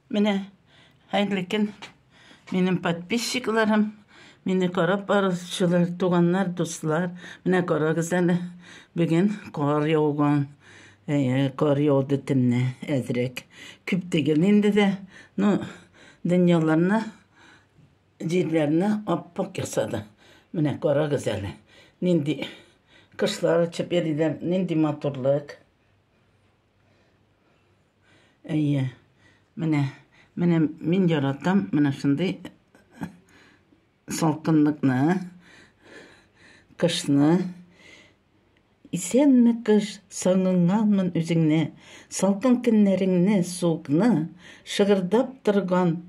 Менә хәерле көн, минем подписчикларым, мине карап баручылар, туганнар, дуслар. Менә карагыз әле, бүген кар яуган, э, кар яуды төнне әзрәк. Күп түгел инде дә, ну, дөньяларны, җирләрне аппак ясады. Менә карагыз әле, нинди кошлар очып йөриләр, нинди матурлык. Әйе. Менә, менә мин яратам, менә шундый салкынлыкны, кышны. Исәнме кыш, сагынганмын үзеңне, салкын көннәреңне, суыкны, шыгырдап торган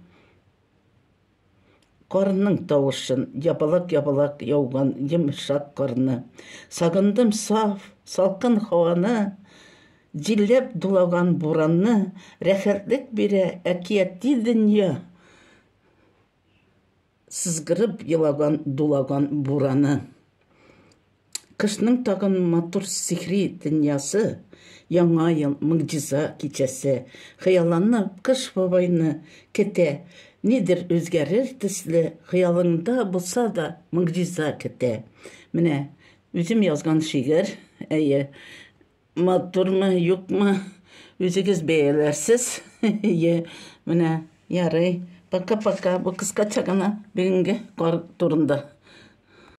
Карның тавышын, ябалак-ябалак яуган йомшак карны. Сагындым саф, салкын һаваны, җилләп дулаган буранны. Рәхәтлек бирә әкияти дөнья, сызгырып елаган, дулаган бураны. Кышның тагын матур сихри дөньясы, Яңа ел, могҗиза кичәсе. Хыялланып, Кыш бабайны көтә. Нидер үзгәрер төсле, Хыялыңда булса да, могҗиза көтә. Менә үзем язган шигырь, әйе, Матурмы, юкмы, үзегез бәяләрсез, әйе. Менә, ярый, пока-пока, бу кыскача гына бүгенге кар турында.